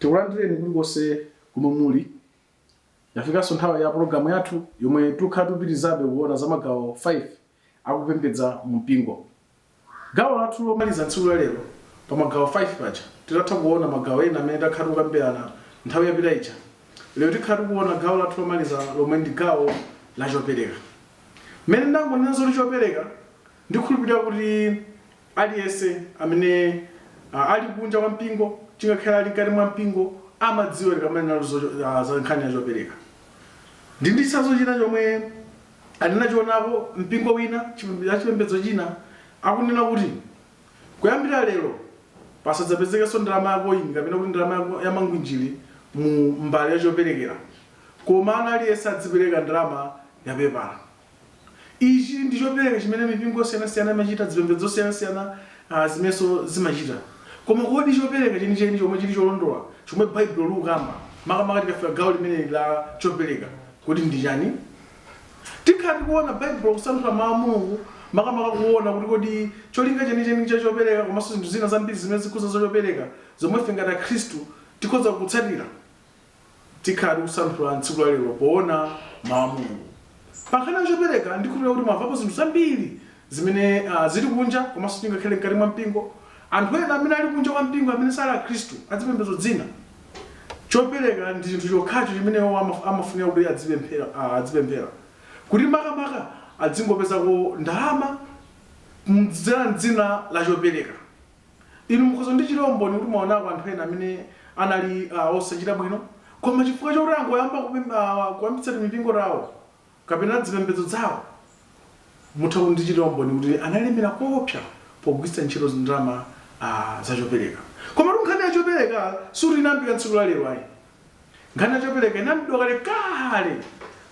Tikulandireni kulikonse komwe muli. Yafikanso nthawi ya pulogalamu yathu yomwe tikhala tikupitirizabe kuona za magawo 5 a kupembedza mu mpingo. Gawo lathu lomaliza tsiku la lero pa magawo 5 paja, titatha kuona magawo ena amene takhala tikukambirana nthawi yapita ija, lero tikhala tikuona gawo lathu lomaliza lomwe ndi gawo la chopereka. Mmene ndangonena zoti chopereka, ndikhulupirira kuti Aliyense amene a, ali kunja kwa mpingo, ngakhale ali mkati mwa mpingo, amadziwa tikamanena za, za, za nkhani ya chopereka. Ndi ndi chitsanzo china chomwe ndinachionapo mpingo wina chipembe- ya chipembedzo china akunena kuti kuyambira lero pasadzapezekenso ndalama ya koini kapena kuti ndalama ya- ya mangwinjiri mu mbale ya choperekera, koma aliyense adzipereka ndalama ya pepala. Ichi ndi chopereka chimene mipingo yosiyanasiyana imachita, zipembedzo zosiyanasiyana a, zimenezo zimachita. Koma kodi chopereka chenicheni chomwe chiri cholondola, chomwe Baibulo likukamba, makamaka tikafika gawo limeneli la chopereka, kodi ndi chani? Tikhala tikuona Baibulo, kusanthula Mau a Mulungu, makamaka kuona kuti kodi cholinga chenicheni cha chopereka komanso zinthu zina zambiri zimene zikukhuza za chopereka, zomwe ife ngati Akhristu tikhoza kutsatira. tikhala tikusanthula tsiku la lero poona mawu a mulungu pankhani ya chopereka ndikhulupirira kuti mwamvapo zinthu zambiri zimene ah, zili kunja komanso ngakhale mkati mwa mpingo anthu ena amene ali kunja kwa mpingo amene sali akhristu azipembedzo zina chopereka ndi chinthu chokhacho chimene iwo amaf- amafunira kuti adzipemphera ah, adzipemphera kuti makamaka adzingopezako ndalama kudzera mdzina la chopereka Inu mukhoza kundichitira umboni kuti mwawonako anthu ena amene anali a, osachita bwino, koma chifukwa chakuti angoyamba kupem, a, kuyambitsa timipingo tawo kapena zipembedzo zawo, mutha kundichitira umboni kuti analemera kowopsya pogwiritsa ntchito ndalama, a, za chopereka. Komatu nkhani ya chopereka sikuti inayambika tsiku la lero ayi. Nkhani ya chopereka inayambidwa kalekale.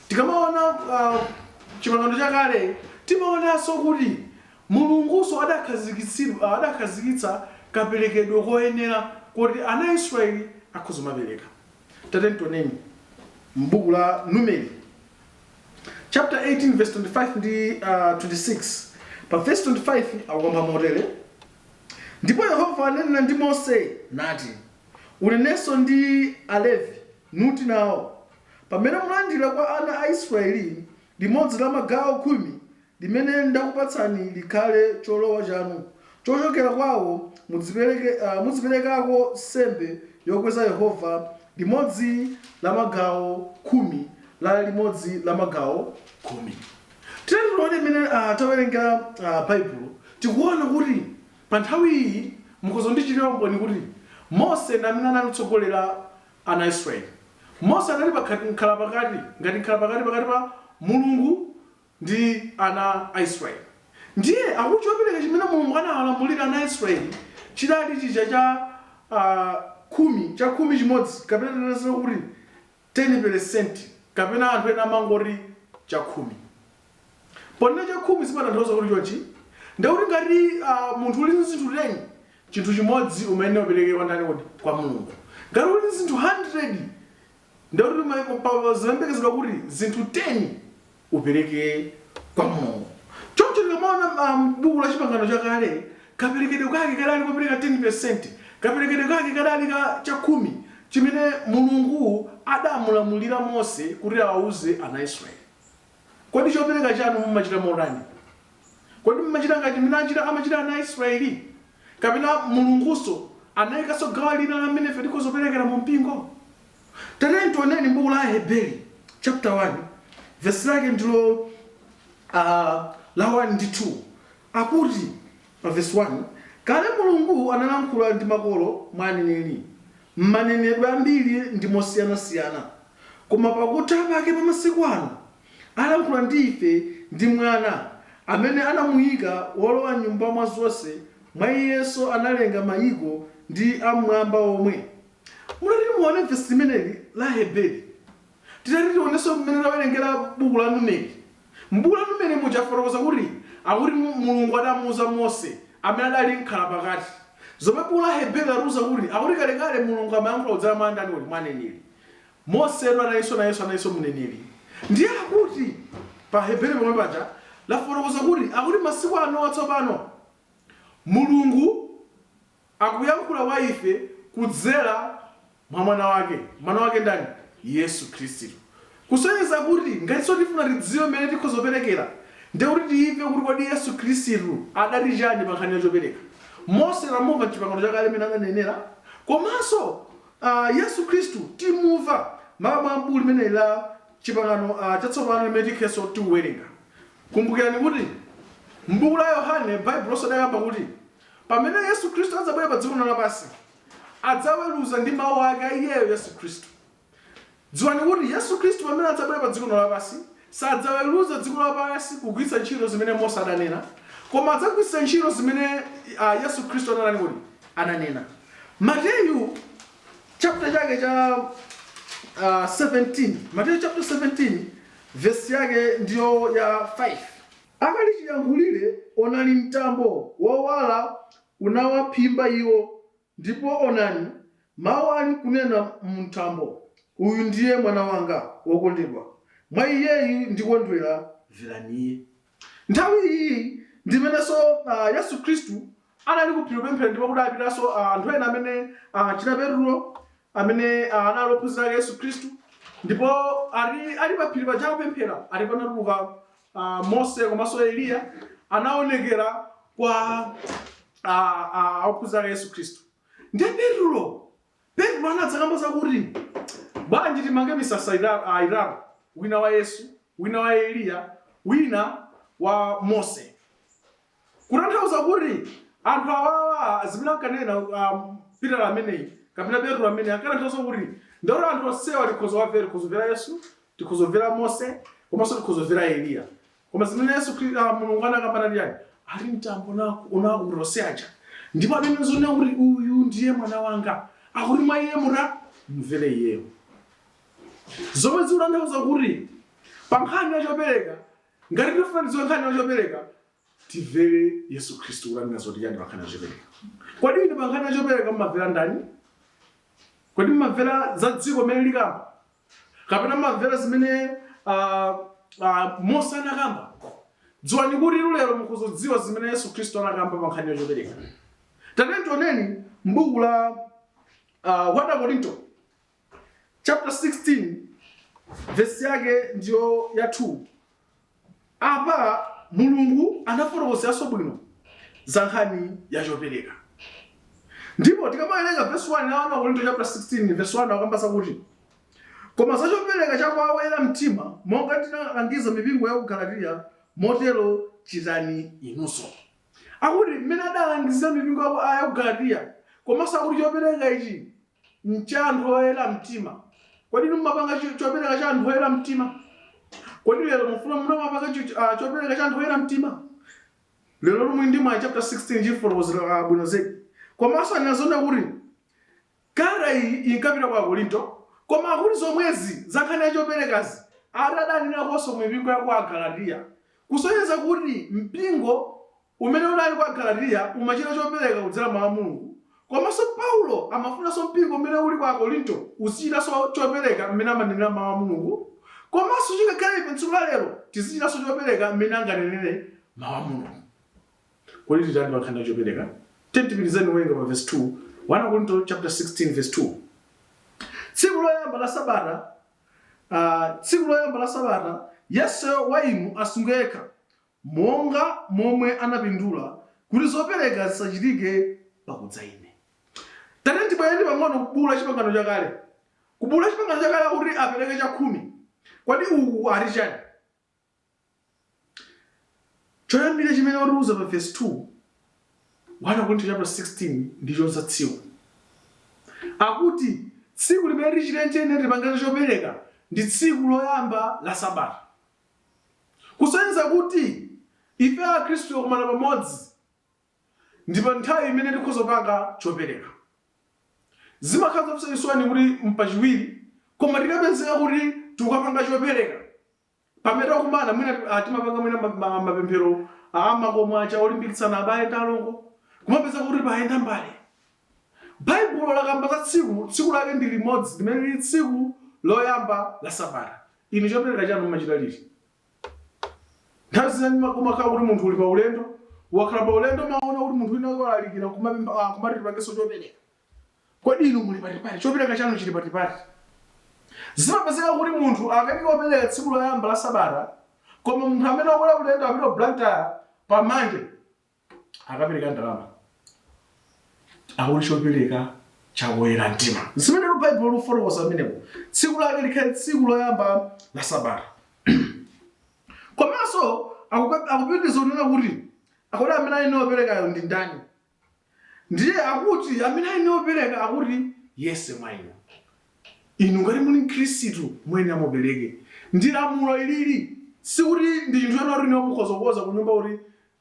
Tikamawona, a, Chipangano Chakale, timawonanso kuti. Mulungunso adakhazikitsa kaperekedwe koyenera koti ana a Israeli akhoza kumapereka. Tatiyeni tioneni m'buku la Numeri chaputala 18 vesi 25 ndi 26. Pa vesi 25 akukamba motere, Ndipo Yehova ananena ndi Mose, nati, Unenenso ndi Alevi, nuti nao, Pamene mulandira kwa ana a Israeli Limodzi la magawo khumi limene ndakupatsani likhale cholowa chanu, chochokera kwawo mudzipereke, mudziperekako nsembe yokweza Yehova, limodzi la magawo khumi la limodzi la magawo khumi. Tiyeni tione mmene tawerenga Baibulo, tikuona kuti pa nthawi iyi, mukhoza kundichitira umboni kuti Mose ndi amene anali kutsogolera ana a Israeli. Mose anali pakhat, mkhalapakati, ngati mkhalapakati pakati pa Mulungu ndi ana a Israeli. Ndiye, akuti chopereka chimene Mulungu anawalamulira ana a Israeli chidali chija cha, a, khumi, chakhumi chimodzi, kapena tinene zokuti teni peresenti, kapena anthu ena amangoti chakhumi. ponena chakhumi zimatanthauza kuti chonchi ndiye kuti ngati uh, munthu uli ndi zinthu 10 chinthu chimodzi umayenera upereke kwa ndani kodi kwa mulungu ngati uli ndi zinthu 100 ndiye kuti ma- pa- pa- zimayembekezedwa kuti zinthu 10 upereke kwa mulungu choncho tikamaona um, buku la chipangano chakale kaperekedwe kake kadali kupereka 10 kaperekedwe kake kadali ka chakhumi chimene mulungu adamulamulira mose kuti awauze ana israeli Kodi chopereka chanu mumachita motani? Kodi mumachita ngati mmene amachitira ana a Israeli? Kapena Mulungunso anaikanso gawo lina la mmene ife tikhoza kuperekera mu mpingo? Tatiyeni tioneni m'buku la Aheberi chapter 1 verse lake ndilo ah, la 1 ndi 2 akuti pa verse 1 kale Mulungu analankhula ndi makolo mwa aneneri M'manenedwe ambiri ndi mosiyanasiyana, koma pakutha pake pa masiku ano alankhula ndi ife ndi Mwana, amene anamuika wolowa nyumba wa zonse, mwa Iyenso analenga mayiko ndi a m'mwamba omwe. Mutati muone vesi limeneli la Aheberi. Titati tionenso mmene tawerengera buku la Numeri, m'buku la Numeri muja lafotokoza kuti akuti Mulungu adamuuza Mose amene adali mkhalapakati, zomwe buku la Aheberi latiuza kuti akuti kalekale Mulungu amayankhula kudzera mwa ndani kodi? Mwa aneneri. Mosetu analinso nayenso analinso mneneri. Ndiye akuti pa Aheberi pomwe paja lafotokoza kuti akuti masiku anowa tsopano Mulungu. akuyankhula kwa ife kudzera mwa Mwana Wake. Mwana Wake ndani? Yesu Khristu. Kusonyeza kuti ngati tsono tifuna tidziwe mmene tikhoza kuperekera, ndiye kuti timve kuti kodi Yesu Khristu adati chani pa nkhani ya chopereka. Mose tamumva m'Chipangano Chakale mmene ananenera, komanso Yesu Khristu timumva m'buku limeneli la Chipangano Chatsopano limene tikhenso tikuwerenga. Kumbukirani kuti m'buku la Yohane Baibulonso lidakamba kuti. Pamene Yesu Khristu adzabwera pa dziko lino lapansi, adzaweruza ndi mawu ake a iyeyo Yesu Khristu. Dziwani kuti Yesu Khristu pamene adzabwera pa dziko lino lapansi, sadzaweruza dziko lapansi kugwiritsa ntchito zimene Mose adanena, koma adzagwiritsa ntchito zimene a, Yesu Khristu anatani kodi? Ananena. Mateyu chapter chake cha ah, 17, Mateyu chapter 17 verse yake ndiyo ya 5. Akali chiyankhulire, onani, mtambo wowala unawaphimba iwo, ndipo, onani, mawu ali kunena mu mtambo, Uyu ndiye Mwana Wanga wokondedwa, mwa Iyeyu ndikondwera, mverani Iye. Nthawi iyi ndi imenenso Yesu Khristu anali ku phiri kupemphera ndipo kudapitanso ah, anthu ena amene ah, achina petulo amene ah, anali ophunzira ake yesu khristu ndipo ali, ali pa phiri paja kupemphera ali panatuluka ah, mose komanso eliya anaonekera kwa ah, ah, ophunzira ake yesu khristu ndiye petulo petulo anadzakamba zakuti bwanji timange misasa ita- ah, itatu wina wa yesu wina wa eliya wina wa mose Kutanthauza kuti anthu awawa zimene ankanena um, Peter ameneyi kapena Petro ameneyi ankatanthauza kuti ndikuti anthu onsewa tikhoza kuwamvera tikhoza kumvera Yesu tikhoza kumvera Mose komanso tikhoza kumvera Eliya koma zimene Yesu Khri- ah, Mulungu anakamba ndi chani ali mtambo naku unakuta onse aja ndipo amene zonena kuti uyu ndiye mwana wanga akuti mwa iye muta mumvere iyeyo zomwe zikutanthauza kuti pa nkhani ya chopereka Ngati tikufuna tidziwe nkhani ya chopereka, timvere Yesu Khristu kuti anena zoti chani pa nkhani ya chopereka. Kodi inu pa nkhani ya chopereka mumamvera ndani? Kodi mumamvera za dziko zimene likamba? Kapena mumamvera zimene ah, ah, Mose anakamba? Dziwani kuti inu lero mukhoza kudziwa zimene Yesu Khristu anakamba pa nkhani ya chopereka. Tatiyeni tioneni m'buku la ah, 1 Akorinto chapter 16 vesi yake ndiyo ya 2 apa mulungu anafotokozeranso bwino za nkhani ya chopereka ndipo tikamawerenga vesi 1 ya 1 korinto chapter 16 vesi 1 akamba zakuti koma za chopereka cha kwa oyera mtima monga ndinalangiza mipingo ya ku galatiya motero chitani inunso akuti mmene adalangizira mipingo ya ku ya ku galatiya komanso akuti chopereka ichi ncha anthu oyera mtima. Kodi inu mumapanga cho- chopereka cha anthu oyera mtima? Kodi lero mufuna muzimapanga cho- ah, chopereka cha anthu oyera mtima? Lero muli ndi mwa chapter 16 chifotokozera ah, bwino zedi. Komanso tinaona kuti kalata iyi inkapita kwa akorinto koma akuti zomwezi zankhani yachoperekazi ati adanenaponso mu mipingo ya ku agalatiya kusonyeza kuti mpingo Umene unali kwa Galatiya umachita chopereka kudzera m'Mawu a Mulungu, komanso Paulo amafunanso mpingo umene uli kwa Akorinto uzichitanso chopereka mmene amanenera Mawu a Mulungu, komanso chingakhale ife m'tsiku la lero tizichitanso chopereka mmene angananere Mawu a Mulungu. Kodi titani pa nkhani ya chopereka? Tiyeni tipitirizeni kuwerenga pa vesi 2, 1 Akorinto chaputala 16 vesi 2. Tsiku loyamba la sabata, ah, tsiku loyamba la sabata, yense wa inu asunge yekha, monga momwe anapindula kuti zopereka zisachitike pakudza ine. Tatiyeni tibwerere pang'ono ku gulu la Chipangano Chakale. Ku gulu la Chipangano Chakale akuti apereka chakhumi. Kodi uku ati chani? Choyambirira chimene watiuza pa vesi 2, 1 Akorinto chaputala 16 ndi cha za tsiku. Akuti tsiku limene tichite nje ine tipange za chopereka ndi tsiku loyamba la sabata. Kusonyeza kuti ife Akhristu tikakumana pamodzi ndi pa nthawi imene tikhoza kupanga chopereka. Zimakhala zomvetsa chisoni kuti m'pachiwiri koma tikapezeka kuti tikukapanga chopereka pamene takumana mwina timapanga mwina mapemphero a m'makomo aja olimbikitsana abale ndi alongo, kumapezeka kuti payenda mbale. Baibulo lakamba za tsiku, tsiku lake ndi limodzi limene lili tsiku loyamba la sabata. Inu chopereka chanu mumachita liti? Nthawi zina ndima- umakhala kuti munthu uli pa ulendo, wakhala pa ulendo umaona kuti munthu wina wake walalikira kumapemba ah, kumati tipangenso chopereka. Kodi inu muli patipati? Chopereka chanu chili patipati? Zimapezeka kuti munthu akatha kupereka tsiku loyamba la sabata, koma munthu amene wakwera ulendo apita ku Blantyre pa Monday, akapereka ndalama akuti chopereka cha woyera mtima zimene lu baibulo lufotokoza pamenepo tsiku lake likhale tsiku loyamba la sabata komanso akupe- akupitiriza kunena kuti akuti amene ali woperekayo ndi ndani ndiye akuti amene ali wopereka akuti yense mwa inu inu ngati muli mkhristu muyenera mupereke ndi lamulo ilili sikuti ndi chinthu choti inu mukhoza kukhoza kunyumba kuti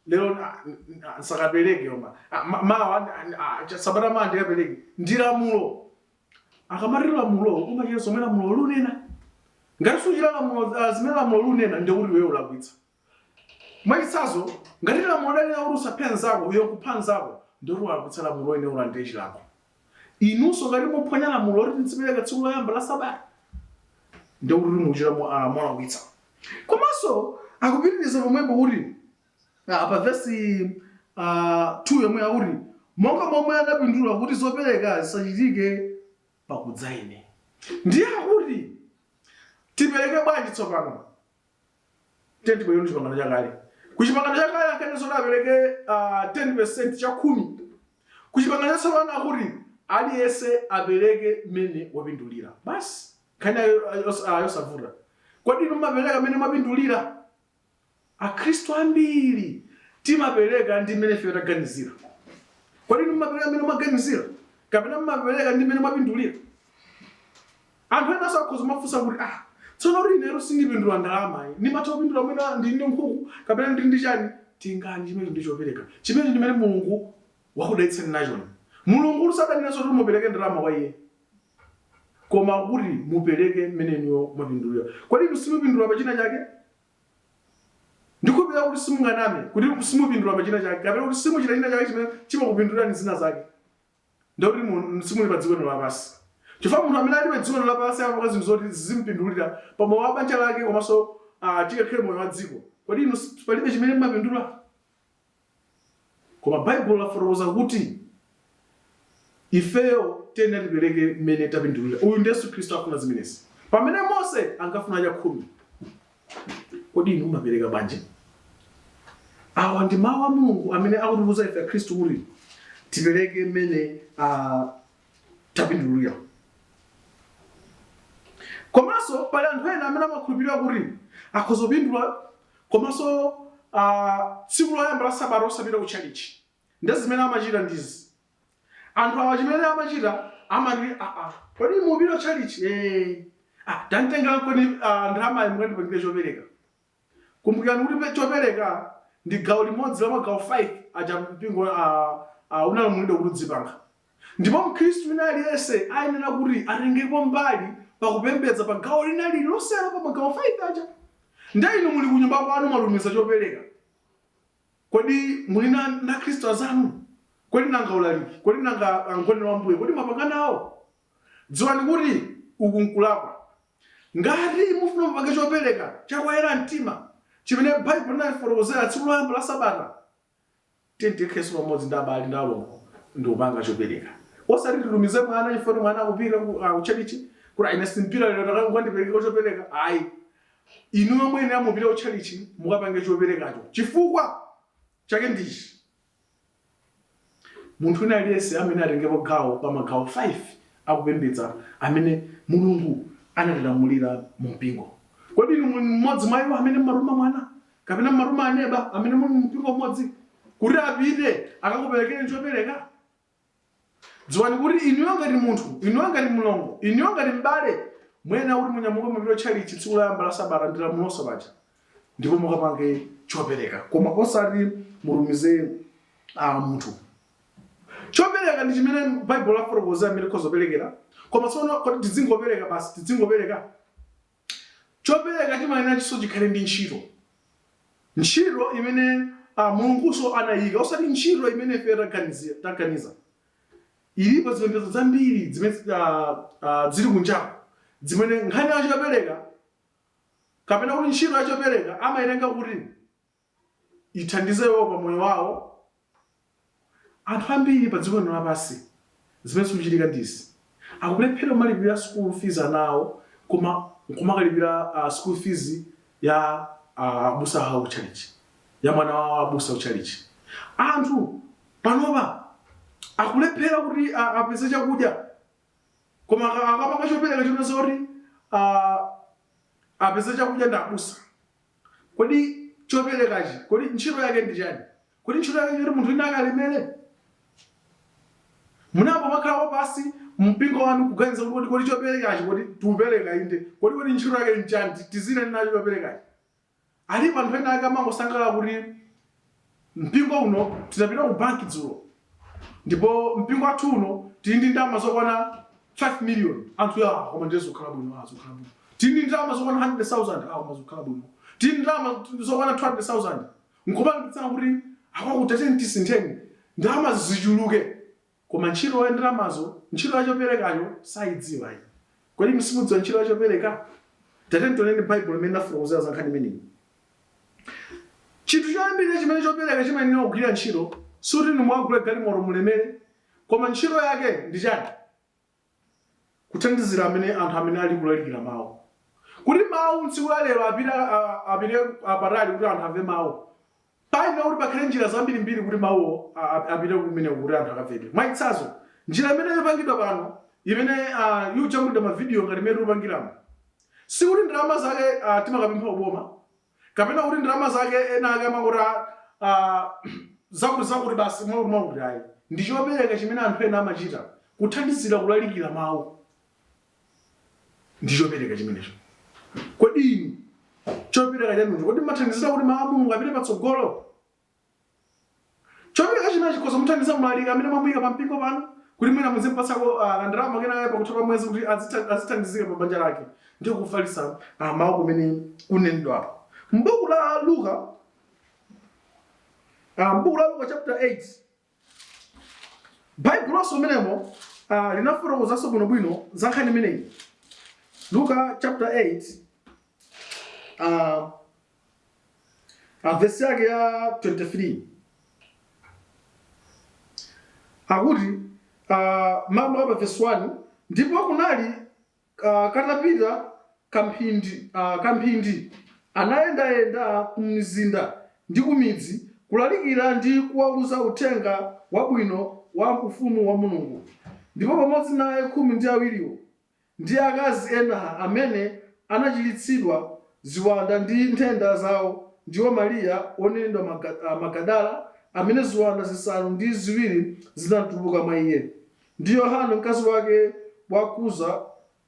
lero ah, n- ah, nsakapereke koma Ah, ma- mawa ndi- ah, ah, sabata mawa ndikapereke ndi lamulo akamati lamulo umachita zomwe lamulo lunena ngati suchita lamulo ah, zimene lamulo lunena ndi kuti iwe ulakwitsa mwachitsanzo ngati lamulo lanena kuti usaphe nzako iwe kupha nzako ndi kuti walakwitsa lamulo uyenera ulandire chilango inunso ngati muphwanya lamulo loti tizipereka tsiku loyamba la sabata ndi kuti muchita mo- ah, molakwitsa komanso akupitiriza pomwepo kuti ah, pa vesi ah, 2 yomwe akuti monga momwe anapindula kuti zopereka zisachitike pakudza ine ndiye akuti tipereke bwanji tsopano tikayiona chipangano chakale ku chipangano chakale ankanena zoti apereke ah, 10 percent chakhumi ku chipangano chatsopano akuti aliyense apereke mmene wapindulira basi nkhani yo- yo- ah, yosavuta kodi inu mumapereka mmene mwapindulira akhristu ambiri timapereka ndi mmene ife taganizira kodi inu mumapereka mmene mwaganizira kapena mumapereka ndi mmene mwapindulira Anthu enanso akhoza kumafunsa kuti, Ah, tsono inetu sindipindula ndalama ayi. Ndimatha kupindula mwina ndili ndi nkhuku kapena ndili ndi chani. Tengani chimenecho ndi chopereka. Chimenecho ndi chimene Mulungu wakudalitsani nachoni. Mulungutu sadanena zoti mupereke ndalama kwa Iye. Koma akuti mupereke mmene inuyo mwapindulira. Kodi inu simupindula pa china chake? Ndikhulupirira kuti simunganame kuti simupindula pa china chake kapena kuti simuchita china chake chimene chimakupindulirani zina zake. ndikuti mu- simuli pa dziko lino lapansi chifukwa munthu amene ali pa dziko lino lapansi amapanga zinthu zoti zizimpindulira pa moyo wa banja lake komanso ah, chikakhale moyo wa dziko kodi inu si- palibe chimene mmapindula koma baibulo lafotokoza kuti ifeyo tiyeni tipereke mmene tapindulira uyu ndi yesu khristu afuna zimenezi pamene mose ankafuna chakhumi Kodi inu mumapereka bwanji? Awa ndi mawu a Mulungu amene akutiuza ife Akhristu kuti tipereke mmene ah, tapindulira. Komanso pali anthu ena amene amakhulupirira kuti akhoza kupindula komanso ah, tsiku loyamba la sabata osapita ku tchalichi. Ndi zimene amachita ndizi. Anthu awa chimene amachita amati ah, ah, kodi mupita tchalitchi eh, ah, tanditengerankoni ah, ndalamayi mukandipangire chopereka. Kumbukirani kuti pe- chopereka ndi gawo limodzi la magawo 5 aja mpingo ah, ah, unalamulidwa kuti udzipanga. Ndipo Mkhristu wina aliyense ayenera kuti atengepo mbali pakupembedza pa gawo lina lililonse pa magawo 5 aja. Ndiye inu muli kunyumba kwanu mwatumiza chopereka. Kodi muli na Akristu azanu? Kodi nanga ulaliki? Kodi nanga Mgonelo wa Mbuye, kodi mwapanga nawo? Dziwani kuti uku n'kulakwa. Ngati mufuna mupange copeleka ca kwa oyela mtima cimene Baibo inatifotokozela tsiku loyamba la sabata, tiyeni tikhalenso pamodzi ndi abale ndi alongo ndi kupanga copeleka. Osati titumize mwana cifukwa kuti mwana akupita ku chalichi, kuti ayi ine simpita lelo, ukandipelekeleko copeleka. Ayi. Inuyo muyenera mupite kutchalitchi mukapange choperekacho. Chifukwa chake ndi ichi, Munthu wina aliyense ayenera atengepo gawo pa magawo 5 a kupembedza amene Mulungu anatilamulira mumpingo. Kodi inu muli mmodzi mwa iwo amene mumatuma mwana kapena mumatuma aneba amene muli mumpingo umodzi kuti apite akakuperekereni chopereka? dziwani kuti inuyo ngati munthu inuyo ngati mlongo inuyo ngati m'bale muyenera kuti munyamuke mupite kutchalitchi tsiku loyamba la sabata ndi lamulo paja ndipo mukapange chopereka koma osati mutumize ah, munthu chopereka ndi chimene baibulo lafotokoza mmene tikhoza kuperekera koma tsono kodi tidzingopereka basi tidzingopereka Chopereka chimayeneranso chikhale ndi ntchito, ntchito imene a, Mulungunso anayika osati ntchito imene ifeyo taganizira, taganiza. Zilipo zipembedzo zambiri zimene a, a, zili kunjaku zimene nkhani ya chopereka kapena kuti ntchito ya chopereka amayitenga kuti ithandize iwowo pa moyo wawo. Anthu ambiri pa dziko lino lapansi zimene zikuchitika ndi izi, akulephera kumalipira school fees ana awo koma nkumakalipira uh, school fees ya uh, abusa awo ku chalichi ya mwana wa abusa ku chalichi. Anthu panopa akulephera kuti a- apeze chakudya koma aka- akapanga chopereka chonena zoti uh, apeze chakudya ndi abusa Kodi choperekachi, kodi ntchito yake ndi chani? Kodi ntchito yake nchoti munthu wina akalemere? Munayamba mwakhalako pansi mu mpingo wanu kuganiza kuti kodi, kodi choperekachi, kodi tikupereka inde, kodi, kodi ntchito yake nchani, tizitani nacho choperekachi? Alipo anthu ena ake amangosangalala kuti Mpingo uno tinapita ku banki dzulo, ndipo mpingo wathu uno tili ndi ndalama zokwana 5 million. Anthu yaa, koma ndiye zokhala bwino, ah, zokhala bwino. Tili ndi ndalama zokwana 100,000, ah, koma zokhala bwino. Tili ndi ndalama zokwana 200,000. N'kumalimbikitsana kuti akwathu tatiyeni tisintheni ndalamazi zichuluke. Koma ntchito ya ndalamazo, ntchito ya choperekacho saidziwa ayi. Kodi inu simudziwa ntchito ya chopereka? Tatiyeni tioneni Baibulo mmene linafotokozera za nkhani imeneyi. Chinthu choyambirira chimene chopereka chimayenera kugwira ntchito sikuti inu mukagule galimoto mulemere, koma ntchito yake ndi chani? Kuthandizira amene anthu amene ali kulalikira mawu. Kuti mawu m'tsiku la lero apita a- apite a- patali kuti anthu amve mawu. Payenera kuti pakhale njira zambirimbiri kuti mawuwo a- a- apite kumeneko kuti anthu akamve. Mwachitsanzo, njira imene ikupangidwa pano imene ah, yojambulira mavidiyo ngati imene tikupangiramo sikuti ndalama zake ah, timakapempha kuboma kapena kuti ndalama zake ena ake amangoti a- a, zakuti zakuti basi mwakuti mwakuti ayi ndi chopereka chimene anthu ena amachita kuthandizira kulalikira mawu ndi chopereka chimenecho kodi inu chopereka chanucho kodi mathandizira kuti mawu a mulungu apite patsogolo Chopereka chimenechi chikhoza kumuthandiza mlaliki amene mwamuika pampingo panu kuti mwina muzimupatsako ah, kandalama kenakake pakutha pa mwezi kuti azitha- azithandizike pa banja lake ndi kufalitsa ah, mawu kumene kunenedwapo. M'buku la Luka ah, m'buku la Luka chapter 8 baibulonso mmenemo uh, linafotokozanso bwinobwino za nkhani imeneyi luka chapter 8 uh, uh, vesi yake ya 23 akuti uh, mmalo a pa vesi 1 ndipo kunali Katapita kamphindi, anayendayenda kumizinda ndi kumidzi kulalikira ndi kuwauza uthenga wabwino wa Ufumu wa Mulungu, ndipo pamodzi naye khumi ndi awiriwo, ndi akazi ena amene anachiritsidwa ziwanda ndi nthenda zawo ndiwo Mariya wonenedwa Magadala, amene ziwanda zisanu ndi ziwiri zinatuluka mwa iye. ndi Yohana mkazi wake wa Kuza,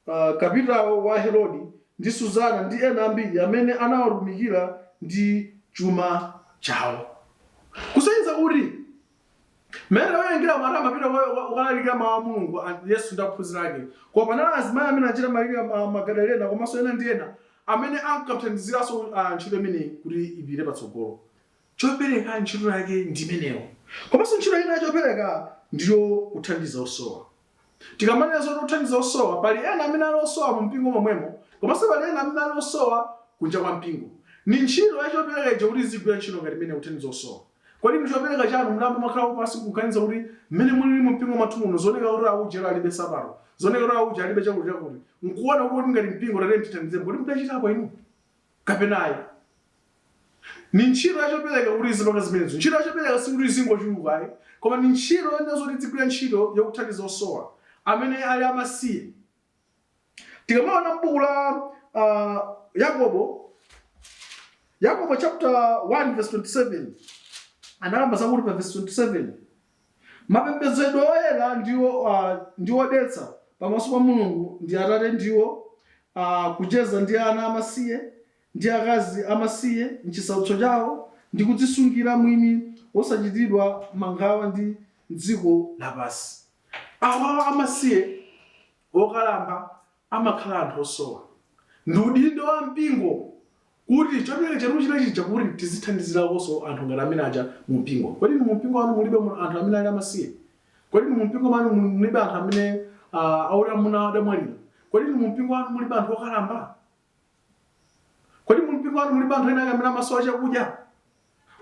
uh, kapitawo wa Herodi, ndi Suzana ndi ena ambiri amene anawatumikira ndi chuma chawo. Kusonyeza kuti mmene amayendera mmene amapita kukalalikira mawu a Mulungu a- Yesu ndi ophunzira ake. Koma panali azimayi amene ngati Mariya ma- Magadalena komanso ena ndi ena amene ankathandiziranso uh, ntchito imeneyi kuti ipite patsogolo. chopereka ntchito yake ndi imeneyo komanso ntchito ina ya chopereka ndiyo kuthandiza osowa tikamanena zoti kuthandiza osowa pali ena amene ali osowa mu mpingo momwemo komanso pali ena amene ali osowa kunja kwa mpingo ni ntchito ya chopereka ija kuti izigwira ntchito ngati imeneyi kuthandiza osowa kodi ndi chopereka chanu munayamba mwakhala pansi kuganiza kuti mmene mulili mu mpingo mwathu muno zikuoneka kuti auje alibe nsapato zikuoneka kuti auje alibe chakuti chakuti nkuona kuti ngati mpingo tatiyeni tithandizeni kodi mudachitapo inu kapena ayi. Ni ntchito ya chopereka kuti izipanga zimenezo. Ntchito ya chopereka sikuti izingochuluka ayi, koma ni ntchito yoyenera zoti idzigwira ntchito yakuthandiza osowa, amene ali amasiye. Tikamaona m'buku la Yakobo, Yakobo chaputala 1 vesi 27, analemba zakuti pa vesi 27, Mapembedzedwe oyera ndi a, ndi odetsa pamaso pa Mulungu ndi Atate ndiwo a, kucheza ndi ana amasiye ndi akazi amasiye m'chisautso chawo ndi kudzisungira mwini wosachitidwa mawanga ndi dziko lapansi. Awa amasiye, okalamba, amakhala anthu osowa. Ndi udindo wa mpingo kuti chopereka chathu china chija kuti tizithandizirakonso anthu ngati amene aja mu mpingo. Kodi inu mu mpingo wanu mulibe mu- anthu amene ali amasiye? Kodi inu mu mpingo mwanu mul- mulibe anthu amene ah, auje amuna awo adamwalira? Kodi inu mu mpingo wanu mulibe anthu okalamba? Kodi mu mpingo wanu mulibe anthu ena ake amene amasowa chakudya?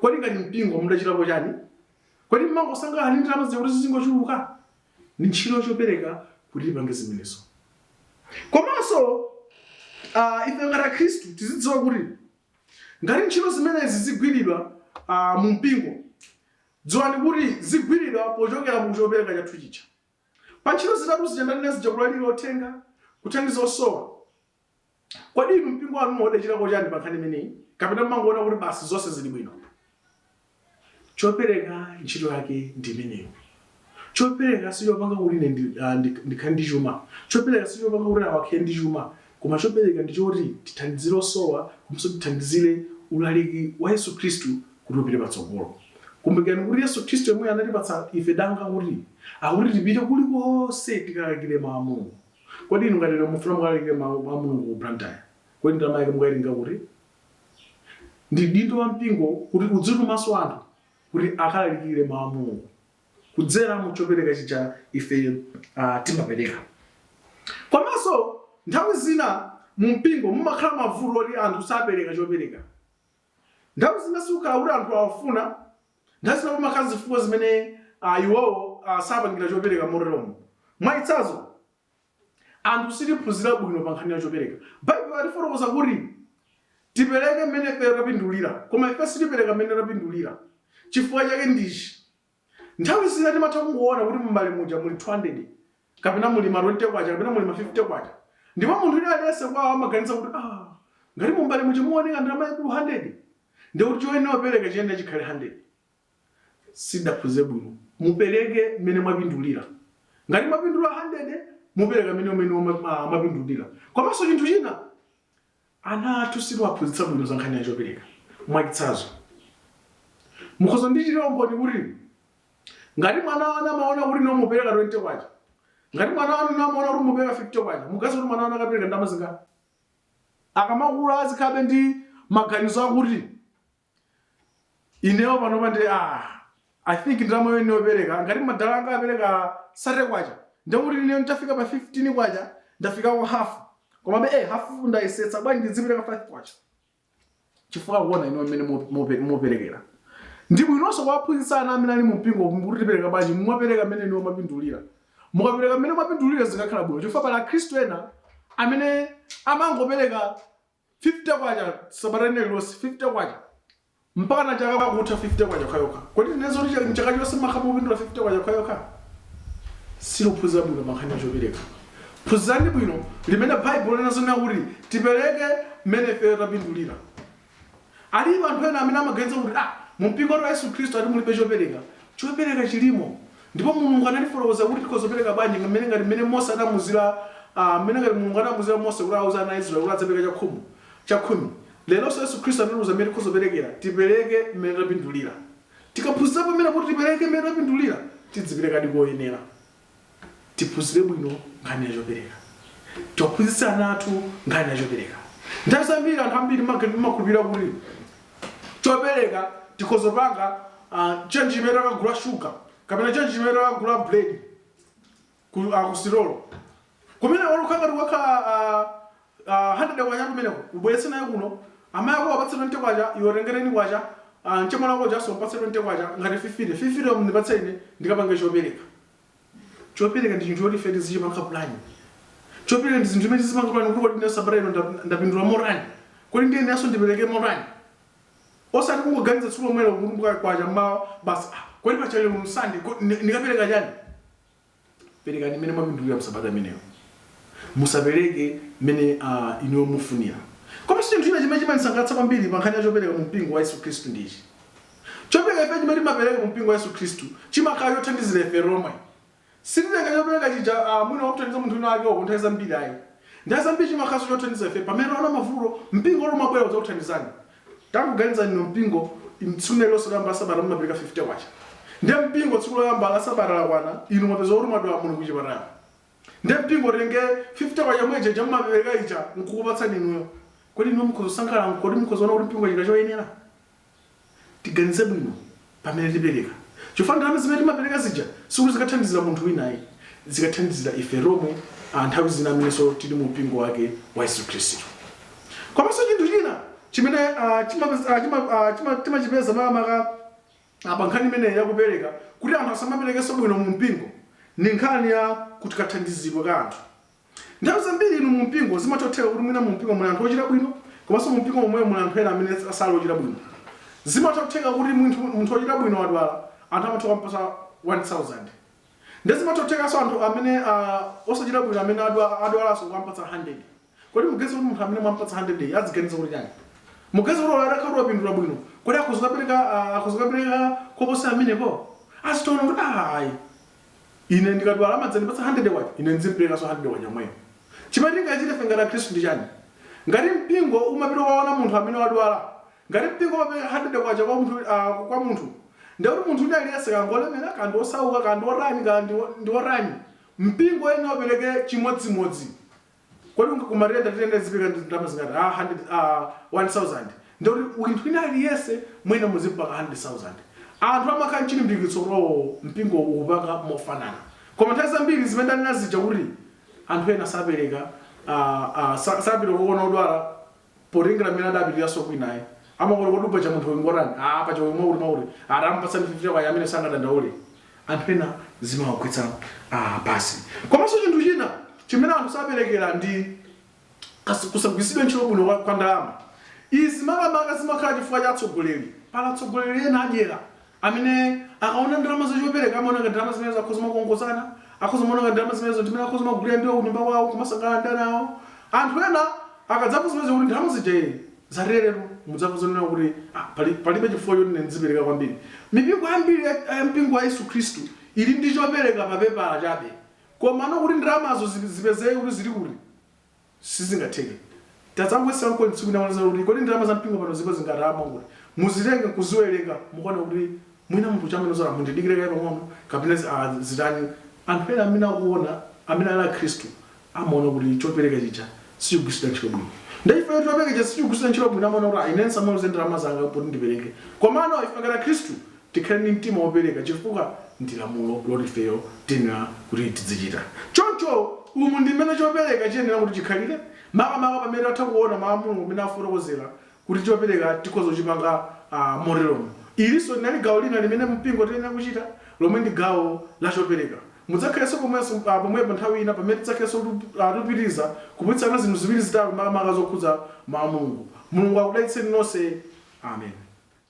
Kodi ngati mpingo mudachitapo chani? Kodi mmangosangalala ndi ndalama zija kuti zizingochuluka? Ndi ntchito ya chopereka kuti tipange zimenezo. Komanso aah ife ngati akhristu tizidziwa kuti ngati ntchito zimenezi zigwiridwa aah mu mpingo, dziwani kuti zigwiridwa pochokera mu chopereka chathu chija. Pa ntchito zitatu zija ndanena zija, kulalira uthenga, kuthandiza osowa, kodi inu mpingo wanu mudachitako chani pa nkhani imeneyi kapena mumangoona kuti basi zonse zili bwino? Chopereka ntchito yake ndi imeneyo. Chopereka sichopanga kuti ine ndi, ah, ndi- ndikhale ndi chuma. Chopereka sichopanga kuti awa akhale ndi chuma. Koma chopereka ndi choti tithandizire osowa komanso tithandizire ulaliki wa Yesu Khristu kuti upite patsogolo. Kumbukirani kuti Yesu Khristu yemweyo anatipatsa ife danga kuti, akuti tipite kulikonse tikalalikire Mau a Mulungu. Kodi inu ngati lero mufuna mukalalikire Mau a Mulungu ku Blantyre, kodi ndalama yake mukaitenga kuti? Ndi udindo wa mpingo kuti udzitumanso anthu kuti akalalikire Mau a Mulungu. kudzera mu chopereka chija ife uh, timapereka komanso nthawi zina mu mpingo mumakhala mavuto oti anthu sapereka chopereka nthawi zina sikukhala kuti anthu safuna nthawi zina mumakhala zifukwa zimene uh, iwowo uh, sapangira chopereka moteromo mwachitsanzo Anthu sitidaphunzire bwino pa nkhani ya chopereka. Baibulo likufotokoza kuti tipereke mmene ife tapindulira, koma ife sitipereka mmene tapindulira. Chifukwa chake ndi ichi, Nthawi zina timatha kungoona kuti mumbale muja muli 200, kapena muli ma 20 kwacha, kapena muli ma 50 kwacha. Ndipo munthu wina aliyense kwawo amaganiza kuti, ah, ngati mumbale muja muoneka ndalama yaikulu 100, ndiye kuti choyenera kupereka chiyenera chikhale 100. sitidaphunzire bwino mupereke mmene mwapindulira ngati mwapindula 100 mupereka mmene umene wama- ah, mwapindulira komanso chinthu china ana athu sitiwaphunzitsa bwino za nkhani ya chopereka mwachitsanzo mukhoza kundichitira umboni kuti ngati mwana wanu amaona kuti inu mupereka 20 kwacha ngati mwana wanu amaona kuti mupereka 50 kwacha muganiza kuti mwana wanu akapereka ndalama zingati akamakula azikhalabe ndi maganizo akuti inewo panopa ndi ah, i think ndalama imene ndiyopereka ngati madala anga apereka 30 kwacha ndiye kuti ineyo nditafika pa 15 kwacha ndafikako half komabe eh, half ndayesetsa bwanji ndizipereka 5 kwacha chifukwa kuona inu mmene mu- mupe- muperekera ndi bwinonso kuwaphunzitsa ana amene ali mu mpingo kuti tipereka bwanji mumapereka mmene inuyo mwapindulira mukapereka mmene mwapindulira zikhala bwino chifukwa pali akhristu ena amene amangopereka K50 sabata lina lililonse, K50 mpakana chaka kutha, K50 yokhayokha. Kodi tinene zoti cha- mchaka chonse mmakhala mukupindula K50 yokhayokha? Sitiluphunzira bwino pa nkhani ya chopereka. Phunzirani bwino mmene Baibulo linena zonena kuti tipereke mmene ifeyo tapindulira. Alipo anthu ena amene amaganiza kuti ah, mumpingo wa Yesu Khristu ati mulibe chopereka. Chopereka chilimo. Ndipo Mulungu anatifotokozera kuti tikhoza kupereka bwanji, mmene, ngati mmene Mose anamuuzira a, mmene, ngati Mulungu anamuuzira Mose kuti awuze ana a Israeli kuti adzipereka chakhumu, chakhumi. Leronso Yesu Khristu anatiuza mmene tikhoza kuperekera, tipereke mmene tapindulira. Tikaphunzira pamene kuti tipereke mmene tapindulira, tidziperekadi koyenera. Tiphunzire bwino nkhani ya chopereka. Tiwaphunzitse ana athu nkhani ya chopereka. Nthawi zambiri anthu ambiri timag, timakhulupirira kuti chopereka tikhoza panga uh, change chimene takagula shuga kapena change chimene takagula bread ku uh, kusitolo kumene olukha ngati yakhala uh, uh, 100 kwacha kumeneko ubweretse nayo kuno amayi ako apatse 20 kwacha iwe tenga ten kwacha uh, mchemwali wako ujanso mpatse 20 kwacha ngati 50 50 mndipatse ine ndikapange chopereka Chopereka ndi chinthu choti ife tizichipanga pulani. Chopereka ndi zinthu zimene tizipanga pulani kuti kodi ine sabata ino nda- ndapindula motani? Kodi ndiyeneranso ndipereke motani? Osati kungoganiza tsiku lomwelo kukumbuka kwacha mmawa basi ah, kodi paja lero ndi Sunday ko- ndi- ndikapereka chani? Perekani mmene mwapindulira mu sabata imeneyo. Musapereke mmene ah, inuyo mufunira. Komanso chinthu china chimene chimandisangalatsa kwambiri pa nkhani ya chopereka mu mpingo wa Yesu Khristu ndi ichi. Chopereka ife chimene timapereka ku mpingo wa Yesu Khristu chimakhala chothandizira ife tomwe. Sititenga chopereka chija ah, mwina kumuthandiza munthu wina wake uko nthawi zambiri ayi. Nthawi zambiri chimakhalanso chothandiza ife pamene taona mavuto, mpingo uli umabwera kudzakuthandizani. Tangoganizani inu mpingo, im- tsiku lina lililonse loyamba la sabata mumapereka K50. Ndiye mpingo tsiku loyamba la sabata lakwana, inu mwapeza kuti mwadwala muli ku chipatala. Ndiye mpingo utenge K50 yomwe ija ija mumapereka ija n'kukupatsani inuyo. Kodi inuyo mukhoza kusangalala? Kodi mukhoza kuona kuti mpingo wachita choyenera? Tiganize bwino pamene tipereka chifukwa ndalama zimene timapereka zija sikuti zikathandizira munthu wina ayi, zikathandizira ife tomwe a nthawi zina amenenso tili mu mpingo wake wa Yesu Khristu. Komanso chinthu china chimene ah, chimapeza- ah, chima- ah, chima- timachipeza makamaka ah, pa nkhani imeneyi ya kupereka kuti anthu asamaperekenso bwino mu mpingo ndi nkhani ya kuti kathandizidwe ka anthu Nthawi zambiri inu mu mpingo zimatha kutheka kuti mwina mu mpingo muli anthu ochita bwino komanso mu mpingo momwemo muli anthu ena amene sali ochita bwino. Zimatha kutheka kuti munthu, munthu wochita bwino wadwala anthu amatha kumpatsa 1000. Nde zimatha kuthekanso anthu amene a osachita bwino amene adwa, adwalanso kukampatsa 100. Kodi muganiza kuti munthu amene mwampatsa 100 yo aziganiza kuti chani? Muganiza kuti olo atakhala kuti wapindula bwino kodi akhoza kukapereka, a, akhoza kukapereka koposera pamenepo? Azingoona kuti aah ayi Ine ndikadwala amadzandipatsa handirede kwacha, ine ndizimpelekanso handirede kwacha yomweyo. Chimene tingachite ife ngati Akhristu ndi chani? Ngati mpingo umapita kukaona munthu amene wadwala, ngati mpingo umapeleka handirede kwacha kwa munthu, a, kwa munthu, ndiye kuti munthu wina aliyense, kaya ngolemera, kaya ndi osauka, kaya ndi otani, kaya ndi, ndi otani, mpingo uyenera upeleke chimodzimodzi. Kodi ngati kumaliro tiyenera tizipeleka ndalama zingati? Ah, hundred, ah, one thousand. Ndiye kuti munthu wina aliyense mwina muzipanga hundred thousand. Anthu amakhala nchilimbikitso kuti oh, mpingo ukupanga mofanana. Koma nthawi zambiri zimene ndanena zija kuti anthu ena sapeleka, ah, ah, sapita kukaona odwala, Potengera mmene adapitiranso kwinako amaona kodi paja munthu uyu ngotani aah paja uyu mwakuti aah tamupatsani 50 kwacha ameneyo sangadandaule anthu ena zimawagwetsa pansi komaso chinthu china chimene anthu saperekera ndi Kas, kusagwiritsidwa ntchito bwino kwa, kwa ndalama izi makamaka zimakhala chifukwa cha atsogoleri pali atsogoleri ena adyera amene akaona ndalama za chopereka amaona ngati ndalama zimenezo akhoza kumakongozana, akhoza kumaona ngati ndalama zimenezo ndi zimene akhoza kumagulira ndiwo kunyumba kwawo kumasangalala ndi ana awo. Anthu ena akadzamva zimenezo kuti ndalama zija ee zateretere mudzamva zonena kuti ah, pali, palibe chifukwa choti ine ndizipereka kwambiri. Mipingo yambiri ya ya mpingo wa Yesu Khristu ili ndi chopereka pa pepala chabe, komano kuti ndalamazo zi- zipezeke kuti zili kuti Sizingatheke. Tadzangoyesani nokha tsiku lina kuona kuti kodi ndalama za mpingo pano zilipo zingati a ndalama. Muzitenge nkuziwerenga mukaona kuti mwina munthu uja amene azinena mundidikire kaye pang'ono kapena zi- ah, zitani. Anthu ena amene akuona amene ali akhristu amaona kuti chopereka chija sichikugwiritsidwa ntchito bwino. Ndiye chifukwa choti chopereka chija sichikugwiritsidwa ntchito bwino amaona kuti ah, ine ndisamaluze ndalama zanga kuti ndipereke. Komano ife ngati akhristu Tikhale ndi mtima wopereka chifukwa ndi lamulo loti ifeyo tiyenera kuti tidzichita choncho. Umu ndi mmene chopereka chiyenera kuti chikhalire makamaka pamene tatha kuona Mau a Mulungu mmene akufotokozera kuti chopereka tikhoza kuchipanga moteromo. Ilinso linali gawo lina limene mumpingo tiyenera kuchita lomwe ndi gawo la chopereka. Mudzakhalenso pomwepo nthawi ina pamene tidzakhalenso tikupitiriza kuphunzitsana zinthu ziwiri zitatu makamaka zokhudza Mau a Mulungu. Mulungu akudalitseni nonse. Amen.